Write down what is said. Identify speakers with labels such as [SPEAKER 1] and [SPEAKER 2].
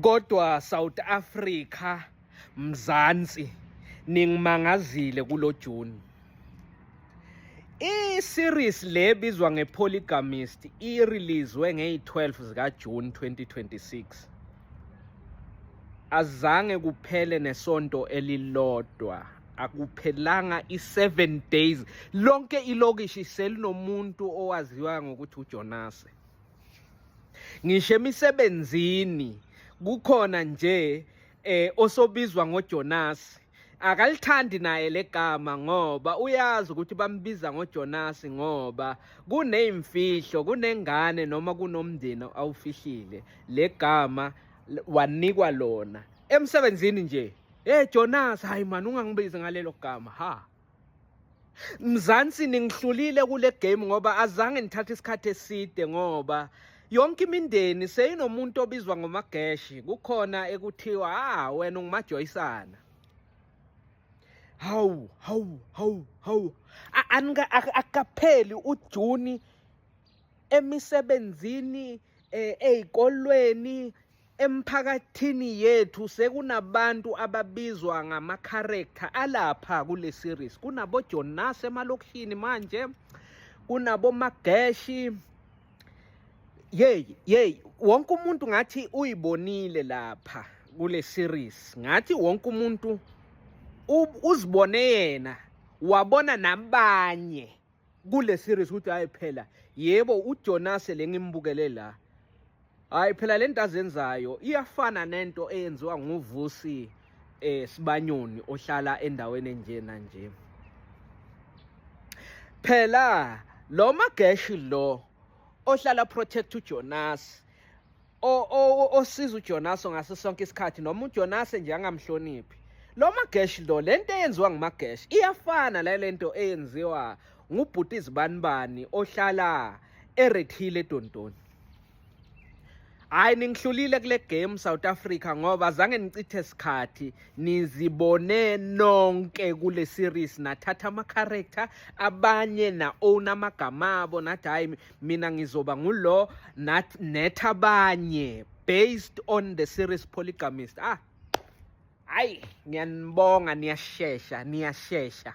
[SPEAKER 1] Kodwa South Africa Mzansi ningimangazile kulo June. I series le bizwa nge Polygamist i releasewe ngey 12 zika June 2026. Azange kuphele nesonto elilodwa akuphelanga i7 days lonke ilokishi selinomuntu owaziwa ngokuthi uJonase. ngisho emisebenzini kukhona nje eh osobizwa ngoJonas akalithandi naye legama ngoba uyazi ukuthi bambiza ngoJonas ngoba kunezimfihlo kunengane noma kunomndeni awufihlile legama wanikwa lona emsebenzini nje hey Jonas hayi man ungangibizi ngalelo gama ha Mzansi ningihlulile kule game ngoba azange nithathe isikhathi eside ngoba yonke imindeni seyinomuntu obizwa ngomageshi kukhona ekuthiwa ah wena ungumajoyisana hawu hawu hawu hawu akapheli ujuni emisebenzini eh, ezikolweni Emphakathini yethu sekunabantu ababizwa ngama-character alapha kule series. Kunabojonas emalokishini manje, kunabomageshi. Yeyi, yeyi, wonke umuntu ngathi uyibonile lapha kule series. Ngathi wonke umuntu uzibone yena, wabona nabanye kule series ukuthi hayi phela yebo uJonase lengimbukele la hayi phela lento azenzayo iyafana nento eyenziwa nguvusi eh sibanyoni ohlala endaweni enjena nje phela lo mageshi lo ohlala protect uJonas osiza uJonaso ngaso sonke isikhathi noma uJonase nje angamhloniphi lo magesh lo lento eyenziwa ngumagesh iyafana le lento eyenziwa ngubhuti izibanibani ohlala erethile edontoni hayi ningihlulile kule game South Africa ngoba zange nichithe isikhathi nizibone nonke kule series nathatha ama character abanye na own amagama abo nathi hayi mina ngizoba ngulo not netha abanye based on the series polygamist ah hayi ngiyanibonga niyashesha niyashesha